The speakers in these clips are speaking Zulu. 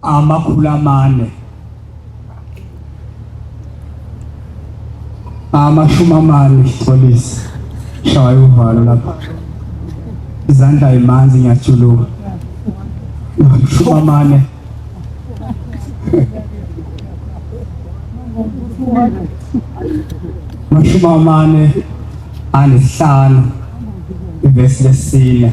amakhulu amane amashumi amane polisi shaya uvalo lapha izandla imanzi ngiyajuluka amashumi amane amashumi amane anesihlanu ivesi lesine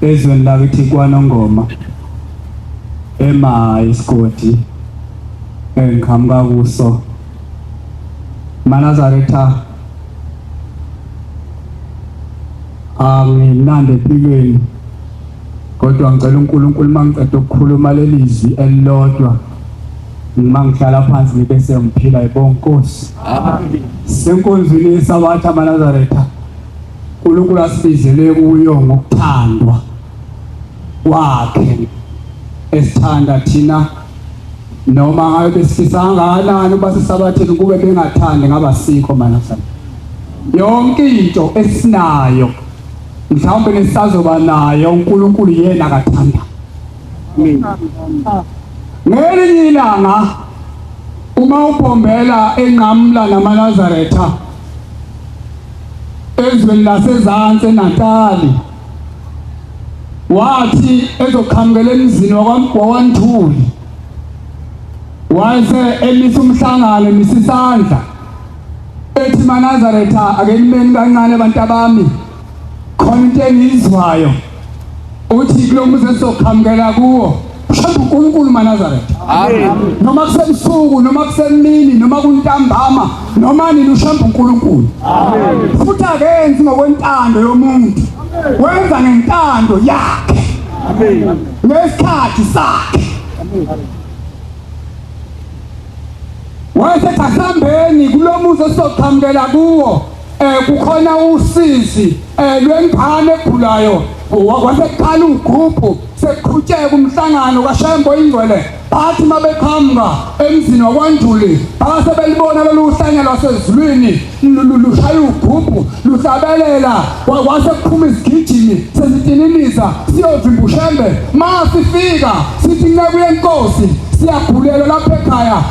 Ezweni lakithi kwaNongoma ema isigodi engiqhamuka kuso manazaretha angimnandi empilweni kodwa ngicela uNkulunkulu mangiqeda ukukhuluma lelizwi elilodwa uma ngihlala phansi ngibe sengiphila yibonkosi senkonzweni yesabatha manazaretha uNkulunkulu asibizele kuyo ngokuthandwa kwakhe esithanda thina noma ngabe besifisa kangakanani uba sisabathini ukube bengathandi ngabasikho manasana yonke into esinayo mhlawumbe nesisazoba nayo uNkulunkulu yena akathanda mina ngelinye ilanga uma ubhombela enqamla namanazaretha ezweni lasezansi eNatali wathi ezoqhamukela emzini wakwaNthuli wayese emisa umhlangano emisa isandla ethi manazaretha akenimeni kancane abantu abami khona into engiyizwayo uthi kulo muzi esizoqhamukela kuwo mhlawumbe uNkulunkulu maNazaretha noma kusebusuku noma kusemini noma kuntambama noma nini ushamba uNkulunkulu futhi akenzi ngokwentando yomuntu wenza ngentando yakhe ngesikhathi sakhe wayesethi asihambeni kulo muzi esizoqhamukela kuwo eh kukhona usizi eh lwengane egulayo waseqala ugruphu sekuqhutsheka umhlangano kaShembo ingcwele bathi mabeqhamuka emzini wakwaNjuli base belibona lolu hlanya lwasezulwini lushaya ugruphu luhlabelela wase kuphuma izigijimi sezitininiza siyovimba uShembe masifika sithi nceku yenkosi siyagulela lapha ekhaya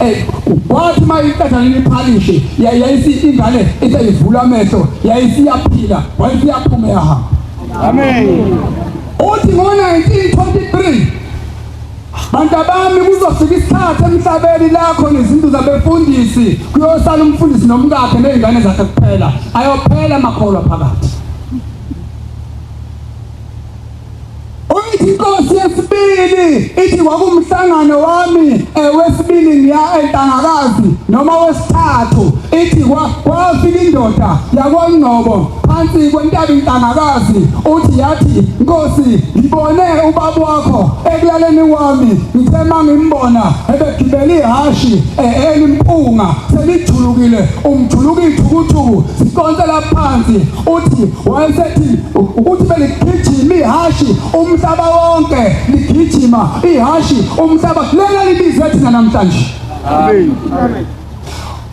Eh, wathi uma iqathanile iphalishi yayisi ingane iseyivula amehlo yayisiyaphila wayisiyaphuma yahamba amen uthi ngo-1923 bantu abami kuzofika isikhathi emhlabeni lakho nezinto zabefundisi kuyosala umfundisi nomkakhe nezingane zakhe kuphela ayophela amakholwa phakathi Uyithi inkosi yesibili ithi kwakumhlangano wami ewesibili ngiya entangakazi noma wesithathu ithi kwafika indoda yakwangcobo phansi kwentaba intangakazi uthi yathi nkosi ngibone ubaba wakho ekulaleni wami ngithe mangimbona ebegibele ihashi elimpunga selijulukile umjuluka ithukuthuku sikonsela phansi uthi wayesethi ukuthi beligijima ihashi umhlaba wonke ligijima ihashi umhlaba lena libize thina namhlanje amen amen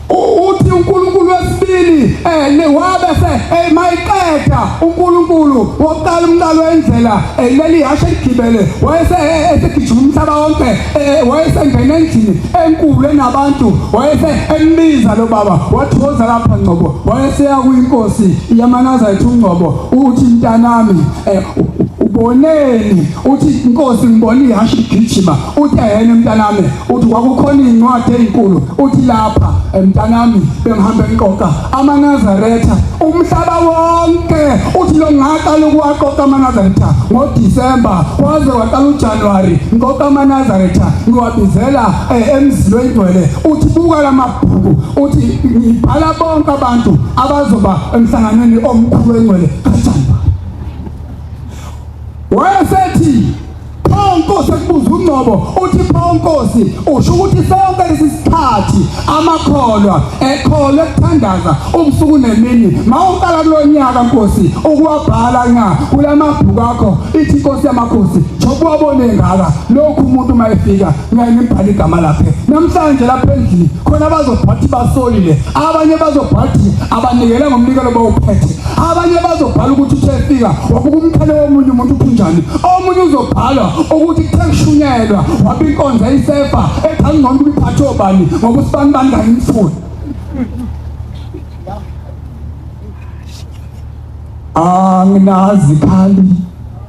uthi uNkulunkulu wesibili eh newabe se eh, mayiqeda uNkulunkulu wokuqala umqalo wendlela eh, leli hashe ligibele wayese eh, esigijima umhlaba wonke wayesengena endlini enkulu enabantu wayese embiza lo baba wathoza lapha ngcobo wayeseya kwinkosi yamanaza ethi ungcobo uthi mntanami eh, uboneni uthi inkosi ngibona ihashe igijima uthi ayena mntanami uthi kwakukhona incwadi ezinkulu uthi lapha eh, mntanami bengihambe ngiqoqa amanazaretha umhlaba wonke uthi lo ngaqala ukuwaqoqa amanazaretha ngoDisemba kwaze kwaqala uJanuary ngiqoqa amanazaretha ngiwabizela eh, emzilweni ngcwele uthi buka lamabhuku uthi ngibhala bonke abantu abazoba emhlanganweni omkhulu wengcwele kaJehova wayesethi pho nkosi ekubuza ungcobo uthi pho nkosi usho ukuthi sonke lesi sikhathi amakholwa ekholwa ekuthandaza ubusuku nemini mawuqala kulonyaka nkosi ukuwabhala nga kulamabhuku akho ithi inkosi yamakhosi jokuwabone ngaka lokhu umuntu mayefika ngayinibhala igama laphe namhlanje lapha endlini khona bazobhathi basolile abanye bazobhathi abanikele ngomnikelo bawuphethe abanye bazobhala ukuthi uthe fika wabuka umkhale womunye umuntu uphunjani omunye uzobhala ukuthi kuthe kushunyelwa wabe inkonzo eyisefa ethi angcono ukuyiphathe obani ngoba usibani bani kangimfuni anginazi khali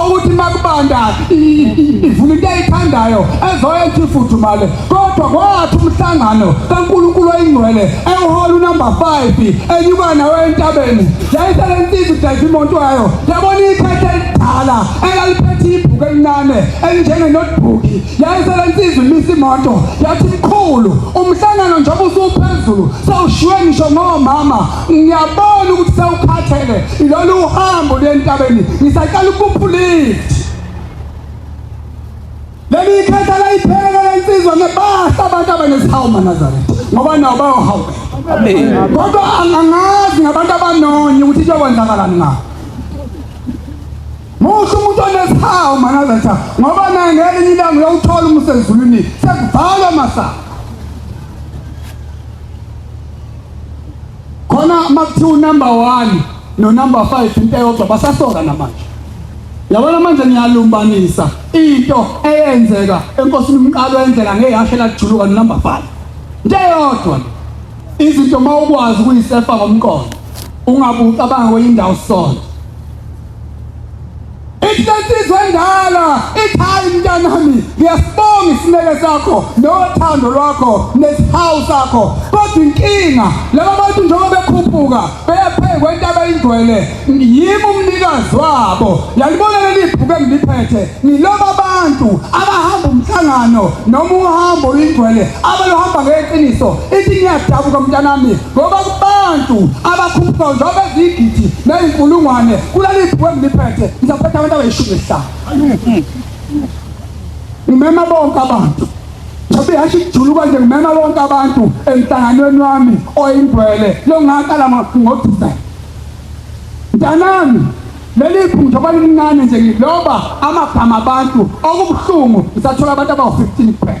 okuthi makubanda ivula into eyithandayo ezoyenza ifudumale kodwa kwathi umhlangano kaNkulunkulu oyingcwele ewuhola unumber 5 enyuka nawe entabeni yayisele insizwa idayisa imoto yayo yabona iphethela elidala elaliphethe ibhuku elincane elinjenge notebook yayisele insizwa imisa imoto yathi mkhulu umhlangano njengoba usuphezulu sewushiywe ngisho ngomama ngiyabona ukuthi sewukhathele ilolu uhambo lwentabeni ngisaqala ukuphulithi leli ikhetha layiphekela lensizwa ngebahla abantu abanesihawu manazaretha ngoba nawo bayohawukela kodwa angangazi ngabantu abanonye ukuthi kuyokwenzakalani ngabo Muhle umuntu onesihawu manazaretha ngoba naye ngelinye ilanga uyawuthola umsezulwini sekuvalwa masango khona makuthiwa unumber 1 no number 5 into eyodwa basasoka namanje yabona manje ngiyalumbanisa into eyenzeka enkosini umqalo endlela ngeyashe lajuluka no number 5 into eyodwa izinto mawukwazi kuyisefa ngomqondo ungabucabanga kwenye indawo sonto Ihlensizwe endala ikhaya mntanami ngiyasibonga isineke sakho nothando lwakho nesihawu sakho kodwa inkinga laba bantu njengoba bekhuphuka beyaphekwa intaba ingcwele yimi umnikazi wabo yalibona leli bhuku engiliphethe ngiloba abantu abahamba umhlangano noma uhambo ingcwele abaluhamba ngeqiniso ithi ngiyadabuka mntanami ngoba kubantu abakhuphuka njengoba eziyigidi neyinkulungwane kulaliphi kwengiliphethe ngizaphetha abantu abayishumi nesihlanu ngimema bonke abantu njengoba ihashe ikujuluka nje ngimema bonke abantu emhlanganweni wami oyingcwele longaqala ngodisembhe mntanami leli phutha kwalincane nje ngiloba amagama abantu okubuhlungu ngisathola abantu abawu-15 kuphela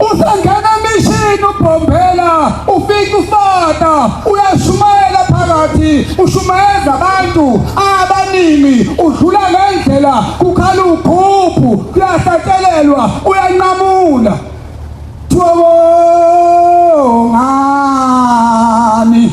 Usangena emishini ubhombela ufika ufata uyashumayela phakathi ushumayeza abantu abaningi udlula ngendlela kukhala uphuphu kuyahlatshelelwa uyanqamula thobo ngani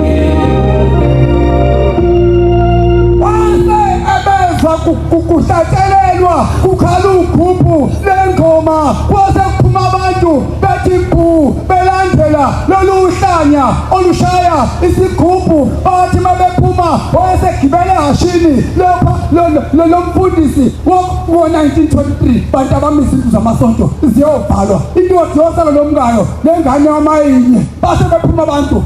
kuhlatshelelwa kukhala uphuphu lengoma kwase kuphuma abantu bethi bhu belandela lolu hlanya olushaya isigubhu bathi uma bephuma wayesegibele ehashini lopha lo mfundisi wo-1923 bantu abami izindlu zamasonto ziyobhalwa indoda yosalo lomkayo nengane yamayinye base bephuma abantu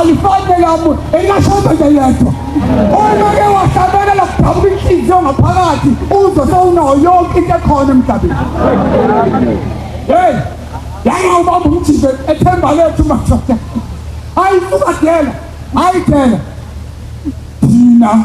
alifani nelamu elingashoda nje yedwa uma ke wahlabela lakudabuka inhliziyo ngaphakathi uzwe sewunawo yonke into ekhona emhlabeni hey yangawubamba umjike ethemba lethu madoda ayifuka dela ayidela thina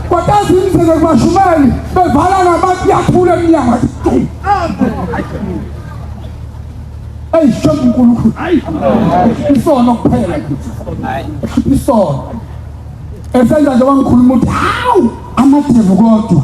Kwatazi imizeke kubashumeli bevala nabantu yakhula emnyango. Eyi shobu uNkulunkulu. Isono kuphela. Isono. Esenza nje wangikhuluma ukuthi hawu amadevu kodwa.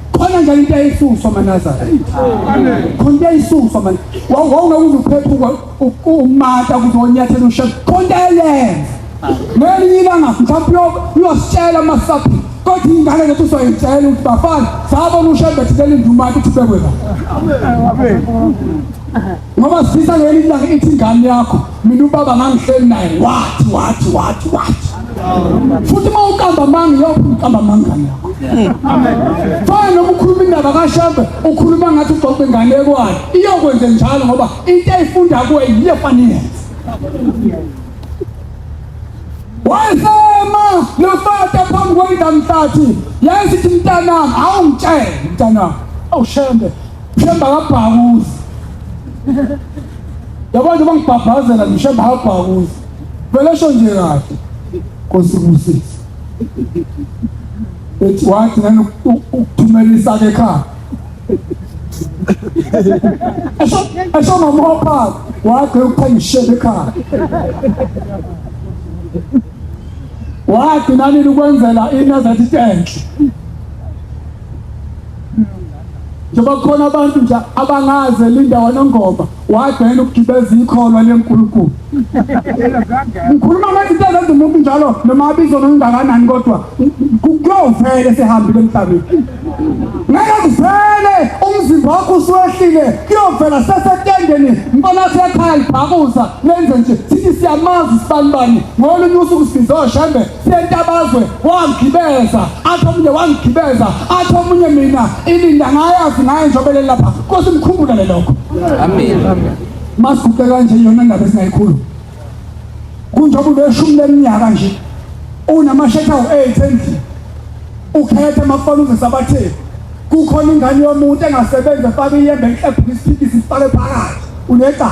khona njalo into eyisuswa manazara khona into eyisuswa man wawona uzuphephuka umata ukuthi wonyathela ushe khona into eyenza ngelinye ilanga mhlawumbe uyositshela amasaphi kodwa ingane zethu soyitshela ukuthi bafana sabona ushembe thilele indumati ukuthi ubekwe la Ngoba sifisa ngeli ilanga ithi ingane yakho mina ubaba ngangihleli naye wathi wathi wathi wathi. Futhi uma ukamba manga yophi ukamba manga yakho. Fana noma ukhuluma indaba kaShembe ukhuluma ngathi ugcokwe ingane ekwayo. Iyokwenze njalo ngoba into ayifunda kuwe yiyo fanele. Wayesema lofata phambi kwendamhlathi. Yazi ukuthi mntanami awungitshele mntanami. Awushembe. Themba kabhakuzi. Yabantu bangibhabhazela ngishemba kabhakuzi. Vele sho nje kahle. Nkosi kusisi. Ethi wathi ngani ukuthumela isake ekhaya. Esho esho mama wapha wathi ukuthenga ishebe ekhaya. Wathi nani ukwenzela inazathi enhle. njengoba kukhona abantu nje abangaze linda wanongoma wagcina ukugibeza ikholwa lenkulunkulu ngikhuluma ngezinto ezenza umuntu njalo noma abizo nokungakanani kodwa kuyovele sehambile emhlabeni ngeke kuvele umzimba wakho usuwehlile kuyovela sesetendeni mbona sekhaya libhakuza lenze nje sithi siyamazi sibanibani ngolunye usuku sizoshembe sentabazwe wangigibeza athi omunye wangigibeza athi omunye mina ilinda ngayazi ngaye njobelele lapha nkosi mkhumbulele lokho amen masiguqe kanje yona ndaba esingayikhulu kunjengoba ubeshumi leminyaka nje unamashetha u-eight endlini ukhethe makufana uzisa batheni kukhona ingane yomuntu engasebenzi efake iyembe enhle ebhukisiphikisi ifake phakathi unecala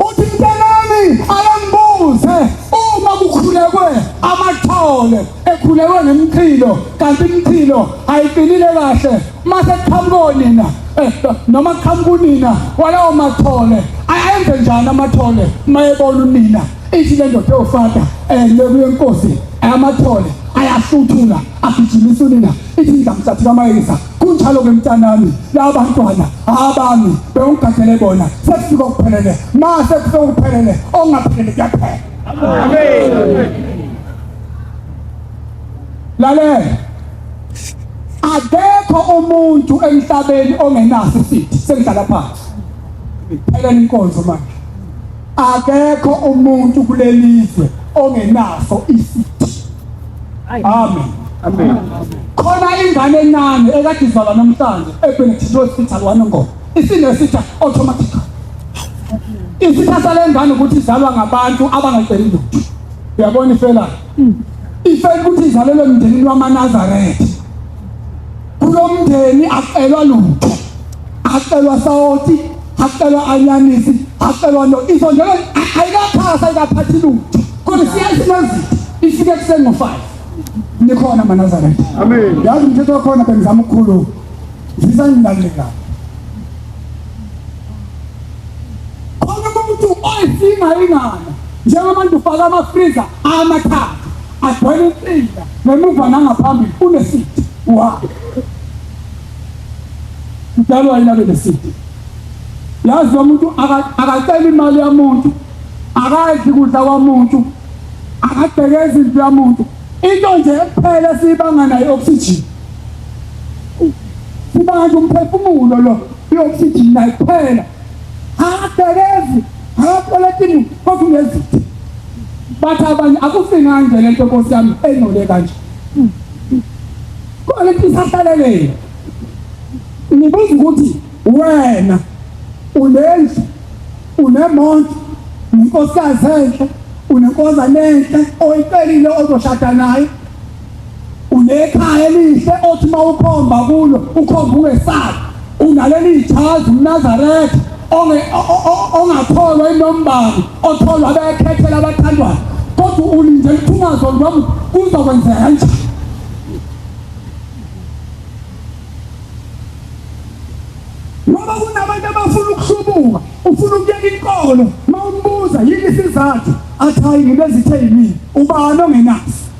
uthintelani alambuze uma kukhulekwe amathole ekhulekwe ngemchilo kanti imchilo ayiqinile kahle mase kuqhamuka onina eh, noma kuqhamuka unina walawo mathole ayenze njani amathole uma ebona unina ithi le ndoda ewufata um eh, lekuyenkosi amathole ayahluthula agijimisa unina ithi ngizamthathela amayeza kunjalo ke mntanami laba bantwana abami bewungigadele bona sekufika okuphelele ma sekufika okuphelele ongaphelele kuyaphela amen lalela akekho umuntu emhlabeni ongenaso isithi sengidlala phansi phela inkonzo manje Akekho umuntu kulelizwe ongenaso isithi. Amen. Amen. Khona ingane encane ekade izalwa namhlanje eBenedictine Hospital waNongoma. Isinesitha automatic. Isitha salengane ukuthi izalwa ngabantu abangaceli lutho. Uyabona ifela? Ifela ukuthi izalelwe emndenini wamaNazaretha. Kulo mndeni acelwa lutho, acelwa sawoti, acelwa anyanisi, acelwa no iso njalo ayikaphasa ayikaphathi lutho. Kodwa siyazi mazitha ifike kuseni ngo-5 nikhona manazaretha Amen. yazi umthetho wakhona bengizama ukukhuluma zisangilaleka khona umuntu oyisinga ingana njengoba nje ufaka amafriza amathathu agcwele impinda ngemuva nangaphambili unesidi wa mdalwa yena benesidi yazi umuntu akacela imali yamuntu akadli kudla kwamuntu akabheke izinto yamuntu into nje kuphela esiyibanga nayo i-oxygen sibanga nje umphefumulo lo i-oxygen nayo kuphela Akagezi, akakoletini kodwa ngezitha. Bathi abanye akusinga nje lento Nkosi yami enole kanje. Kodwa lento isahlalelele. Ngibuza ukuthi wena unendlu unemonto inkosikazi enhle unenkosana enhle oyicelile ozoshada naye Unekhaya elihle othi uma ukhomba kulo ukhomba ungesabi. Unaleli jazi uMnazaretha ongakholwa inombani otholwa bekhethela abathandwayo kodwa ulinde liphumazo lwami kuzokwenzeka kanjani ngoba kunabantu abafuna ukuhlubuka ufuna ukuyeka inkolo uma umbuza yini isizathu athi hayi ngibezithe yimini ubani ongenaso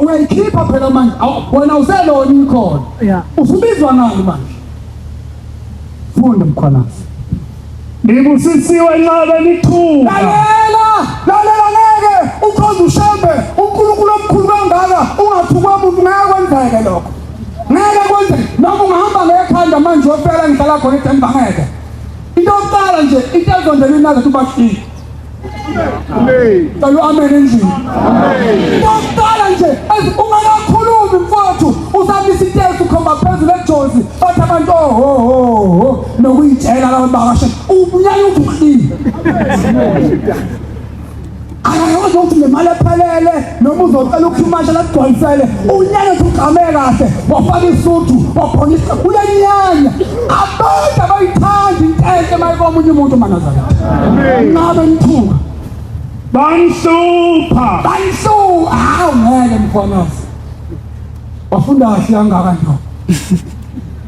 uyayikhipha phela manje wena uselona ikhona usubizwa ngani manje funda mkhonasi ngibusisiwe nxabe nithuka lalela lalela ngeke ukhonza ushembe unkulunkulu omkhulu kangaka ungathukwa muntu ngeke kwenzeke lokho ngeke kwenze noma ungahamba ngekhanda manje uyofela ngihlala khona edemba ngeke into yokuqala nje into ezondela inazo uthi ubashile Cela amen endlini. Okokuqala nje ungakakhulumi mfowethu usaba isitesi ukhomba phezulu ejozi bathi abantu ohohoho nokuyitshela labantu bakashe ubunyala uthi uhlile. Akayazi ukuthi nemali ephelele noma uzocela ukuphumashela akugcwalisele unyanya ugqame kahle wafaka isuthu waphonisa uyenyanya abantu abayithandi into enhle mayike omunye umuntu manazana ngabe nithuka bangihlupha bangihlupha hawu ngeke mfonazi wafunda kahle kangaka nto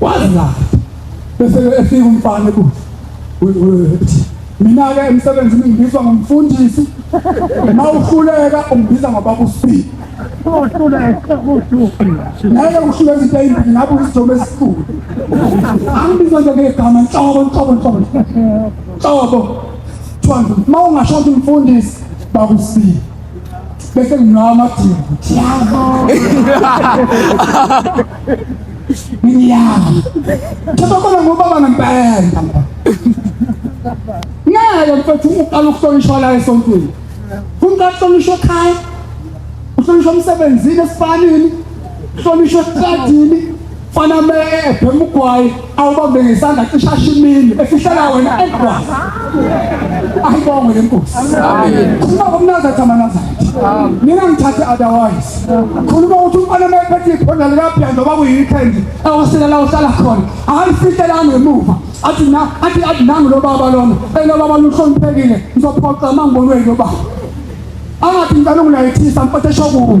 wazilapha bese efika umfana ukuthi mina-ke emsebenzini ngibizwa ngomfundisi ma uhluleka ungibiza ngobabusibili naye uhluleka into eyimbili ngabe uyijomo esikhulu angibiza nje ngegama nhlobo nhlobo nhlobo nhlobo kuthiwa ma ungasho ukuthi umfundisi babusibili bese nginawo amadingo ngiyama thobakona ngobaba ngempela ngeke mfethu uqala ukuhlonishwa la esontweni kumka kuhlonishwa ekhaya uhlonishwa emsebenzini esifanini uhlonishwa esikadini fana me ebhema ugwayi awubambe ngesandla cisha shimini efihlela wena enkwazi ayibongwe le nkosi khuluma ngomnaza thamanaza mina ngithathe otherwise khuluma ukuthi umfana uma ephethe iphonda likabhiya noma kuyi-weekend awasela la uhlala khona akalifihlele angemuva athi na athi athi nangu lo baba lona elo baba luhloniphekile ngizophoxa amangibonweni lo baba angathi ngicela ungilayithisa mfethe shokuwe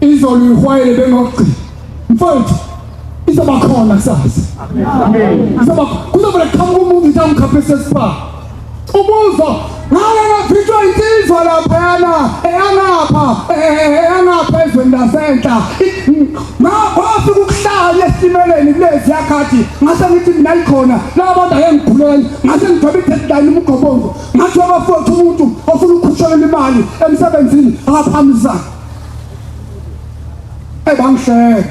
Izolo ihwayele bengokugcina. Mfowethu izoba khona kusasa. Amen. Izoba kuzoba qhamuka umuntu nje amkhaphe sesipha. Umuzwa ngale ngaphithwa insizwa laphana eyanapha eyanapha ezweni lasenhla ngaphansi ukuhlala esimeleni kulezi yakhathi ngase ngithi mina ikhona laba bantu ayengiguleli ngase ngigcobe i-deadline umgobongo ngathi wabafowethu umuntu ofuna ukukhushelela imali emsebenzini akaphambisana Ebamhleke.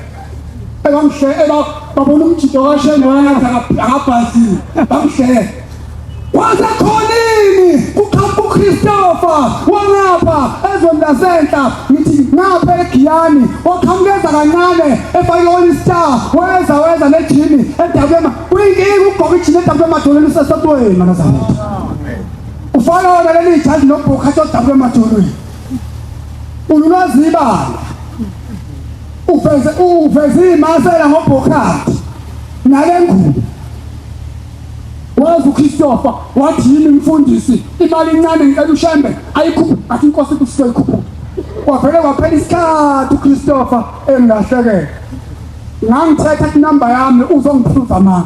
Ebamhleke eba babona umjito kashenge wayenza akabhazile. Bamhleke. Kwaze khonini kuqhamuka uChristopher walapha ezweni lasenhla ngithi ngapha eGiyani oqhamukeza kancane efake i-All Star weza weza nejini edabema kuyinkinga ukugqoka ijini edabula emadolweni usesotweni manazana ufana wona leli jazi nobhokhathi odabula emadolweni Ululwazi ibala. Ufeze ufeze imasela ngobhokhathi nale ngubo. Wazi uChristopher wathi yini mfundisi imali incane ngicela ushembe ayikhuphe athi inkosi kusike ikhuphe. Kwaphela kwaphela isikhathi uChristopher engahlekela. Ngangithetha inamba yami uzongiphuza mama.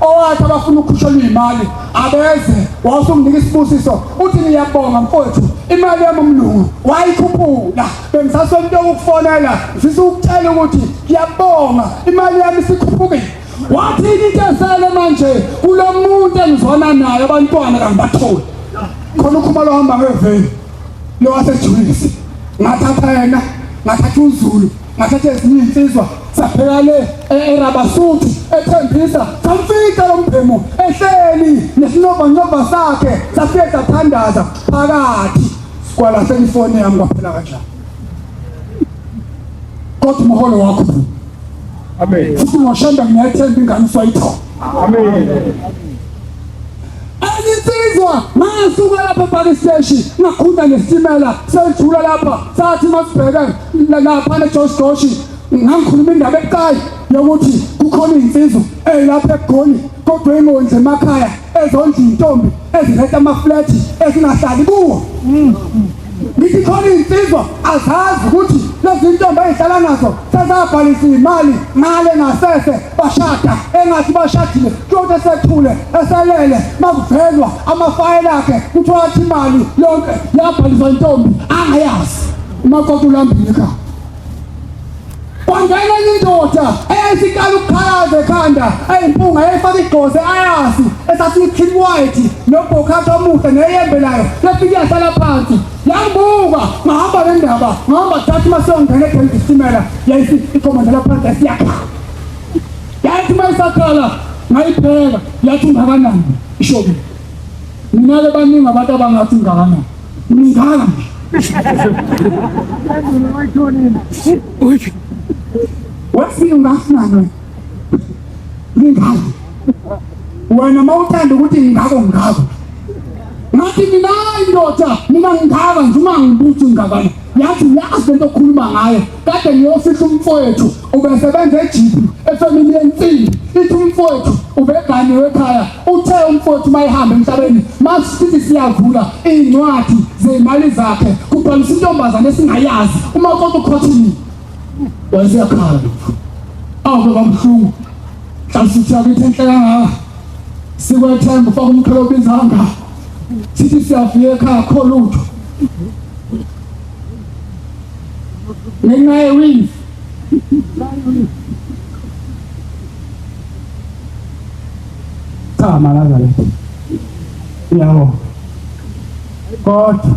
owathi abafuna ukhushelwa iy'mali abeze wawusunginika isibusiso uthi ngiyabonga mfowethu imali yami umlungu wayikhuphula bengisasonto ukufonela ngifisa ukutshela ukuthi ngiyabonga imali yami isikhuphukile wathini into esele manje kulo muntu engizwana naye abantwana kangibatholi khona ukhumalo ohamba ngeveni lowasejulisi ngathatha yena ngathatha uzulu ngathatha ezinye iy'nsizwa saphela le erabasuthi ethembisa samfica lo mbhemu ehleli nesinobhanobha sakhe safike sathandaza phakathi kwalahleka ifoni yami kwaphela kanjani kodwa umholo wakho amen futhi ngoshanda ngiyethemba ingane uswayithola amen Anginsizwa ngasuka lapha ebhaki steshi ngakhunda ngesitimela sendlula lapha sathi masibheke lapha neJosh Josh ngangikhuluma indaba ebucayi yokuthi kukhona izinsizwa ezilapha egoli kodwa ingondle emakhaya ezondla intombi eziletha amaflethi ezingahlali kuwo Ngithi khona iy'nsizwa azazi ukuthi lezi ntombi ezihlala nazo sezabhalisa iy'mali ngale ngasese bashada engathi bashadile kuyonto esethule eselele makuvelwa amafayela akhe kuthiwa athi imali yonke yabhaliswa intombi angayazi umakoti ulambile ekhaya kwangena enye indoda eyayisiqala ukukhalaza ekhanda eyimpunga yayifaka igqoze ayasi esasiyi-clean white nobhokhathi omuhle neyembe nayo yafike yahlala phansi yangibuka ngahamba le ndaba ngahamba thatha uma siyongena edeni isitimela yayithi ikhomandela phansi yasiyakhala yayithi uma isakhala ngayipheka yathi ungakanani ishobile mina-ke baningi abantu abangathi ungakanani Mdala. Wafika ngasinana. Mdala. Wena mawuthanda ukuthi ngingako ngingako. Ngathi mina indoda mina ngingaka nje uma ngibuthi ngingakana. yathi uyazi lento okhuluma ngayo kade ngiyofihla umfowethu ubesebenza ejipi efemini yensimbi ithi umfowethu ubeganiwe ekhaya uthe umfowethu uma ehamba emhlabeni masisithi siyavula iy'ncwadi zey'mali zakhe kubhalisa intombazane esingayazi uma konke ukhothini wayeseyakhala lokhu awu baba mhlungu mhlawumbe sithi yakithi enhle kangaka sikwethemba ufaka umkhelo obizanga sithi siyavuya ekhaya kho lutho ngenxa yewifi cha malaza lethi uyabo kodwa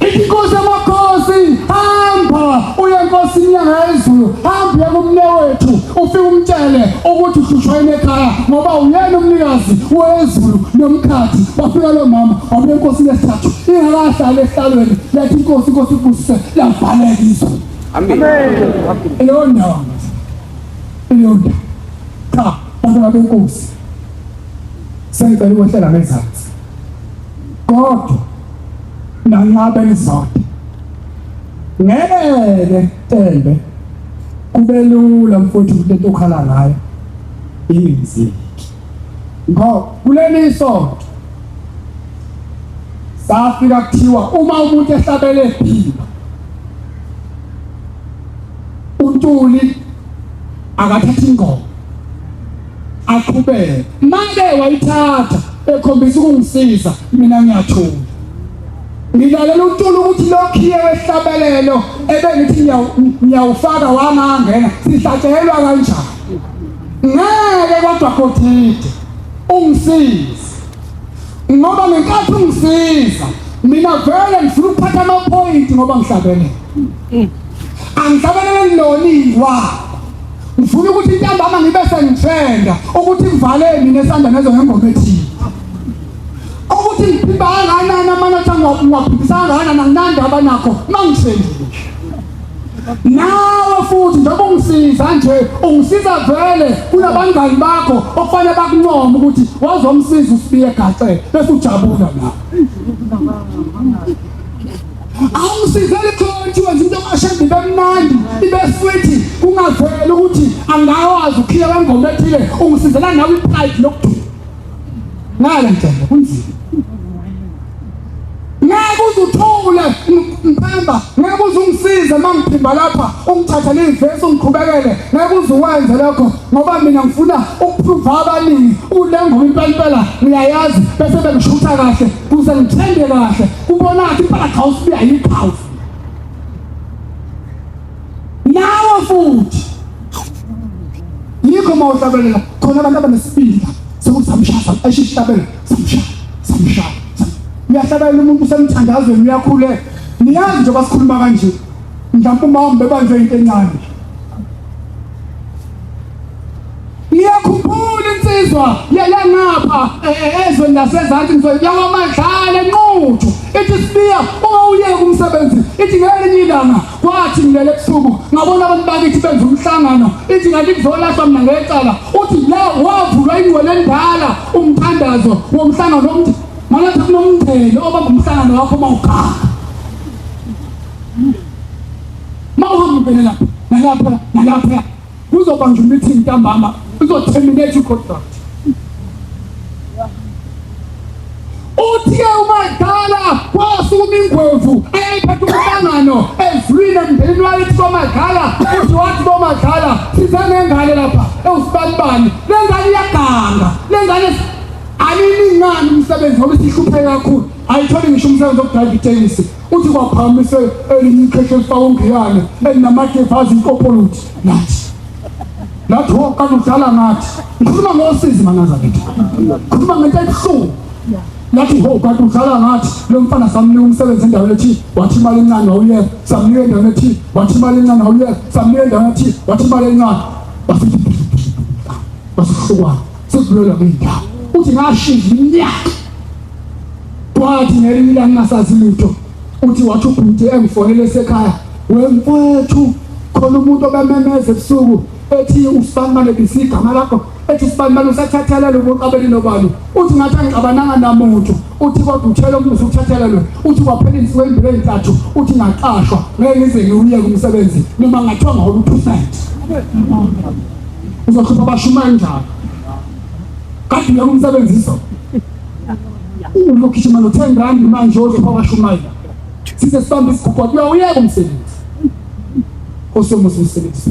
Inkosi amakhosi hamba uye enkosini yangezulu hamba kumnewethu ufike umtshele ukuthi uhlushwa ekhaya ngoba uyena umnikazi wezulu nomkhathi bafika lo mama wabuye enkosini yesithathu ingakahlali ehlalweni yathi inkosi inkosi ibusise lavaleka izulu amen leyo ndawo leyo ndawo cha bantwana benkosi sengicela ukwehlala ngezansi kodwa nanqaba izodi ngeke tembe kubelula mfowethu ukuthi into okhala ngayo ingenzeki ngoba kuleli isonto safika kuthiwa uma umuntu ehlabele phila untuli akathatha ingoma aqhubeke manje wayithatha ekhombisa ukungisiza mina ngiyathula ngilalela untula ukuthi lokhiye wehlabelelo ebengithi ngiyawufaka wangangena sihlatshelwa kanjani ngeke kodwa kodide ungisize ngoba ngenkathi ungisiza mina vele ngifuna ukuphatha amaphoyinti ngoba ngihlabene angihlabelele loniwa ngifuna ukuthi intambama ngibe sengithenda ukuthi ngivale mina esanda nezo ngengoma ethile ukuthi ngiphimba kangakanani amanotha ngiwaphindisanga kangakanani anginandaba nakho uma ngisendile nawe futhi njengoba ungisiza nje ungisiza vele kunabangani bakho okufanele bakuncoma ukuthi wazomsiza usibiye gaxe bese ujabula nawe awusivele khonje wenza into kashembe bemnandi ibe futhi kungavela ukuthi angawazi ukhiya kwengoma ethile ungisizela nawe ipride lokuduma ngale njalo kunzima ngeke uzuthule mphemba ngeke uzungisize uma ngiphimba lapha ungithatha leyivesi ungiqhubekele ngeke uzuwenze lokho ngoba mina ngifuna ukuphruva abaningi ulengoma impela impela ngiyayazi bese bengishutha kahle kuze ngithenge kahle ubona ukuthi impala cha usibuya yiqhawu nawe futhi yikho uma uhlabelela khona abantu abanesibindi sokuthi samshasa eshihlabela samshaya samshaya uyahlabelela umuntu usemthandazweni uyakhuleka niyazi nje basikhuluma kanje mhlawumbe uma wambe banje into encane Ngiyakhumbula insizwa yalangapha e, e, ezweni lasezansi ngizwe yakwamadlala enquthu ithi sibiya ungawuyeka umsebenzi ithi ngelinye ilanga kwathi ngilele ebusuku ngabona abantu bakithi benza umhlangano ithi kanti kuzolahlwa mina ngecala uthi la wavulwa ingwele endala umthandazo womhlangano omthi manathi kunomndeni obamba umhlangano wakho uma uganga ma uhamba uvele lapha nalapha nalapha Kuzobanjwa i-meeting ntambama uzo-terminate i-contract. Uthe uMadala wasukuma ingwevu eyayiphethe umhlangano ezwini emndenini wakithi koMadala uthi wathi koMadala size nengane lapha ewusibanibani le ngane iyaganga le ngane aniningani umsebenzi ngoba isihlupheke kakhulu ayitholi ngisho umsebenzi wokudrayiva itekisi Uthi kwaphamise elinye ikhekhe elifaka ungiyane elinamakefu azinkopoluthi nathi lathi woqala udlala ngathi ngikhuluma ngosizi manaza kithi ngikhuluma ngento ebuhlungu lathi ho kanti udlala ngathi lo mfana samnika umsebenzi endaweni ethi wathi imali encane wawuye samnika endaweni ethi wathi imali encane wawuye samnika endaweni ethi wathi imali encane basithi basihlukwana sesibulela ngey'ndawo uthi ngashinga iminyaka Kwathi ngelinye ilanga ngasazi lutho uthi wathi ubhuti engifonele esekhaya wemfethu khona umuntu obememeza ebusuku ethi usibanibane bisi igama lakho ethi usibanibane usathathelelwe ubuqabeli nobani uthi ngathi angixabananga namuntu uthi kodwa uthele umusa ukuthathelelwe uthi kwaphela insuku ezimbili ezintathu uthi ngaqashwa ngeke ngize ngiwuyeke umsebenzi noma ngathiwa ngawona uprofethi uzokhipha abashumayeli njalo kade uyeka umsebenzi izolo Uma ugijima no-ten rand manje oze kwabashumayela size sibambe isigugwa kuya uyeka umsebenzi osomuzi umsebenzi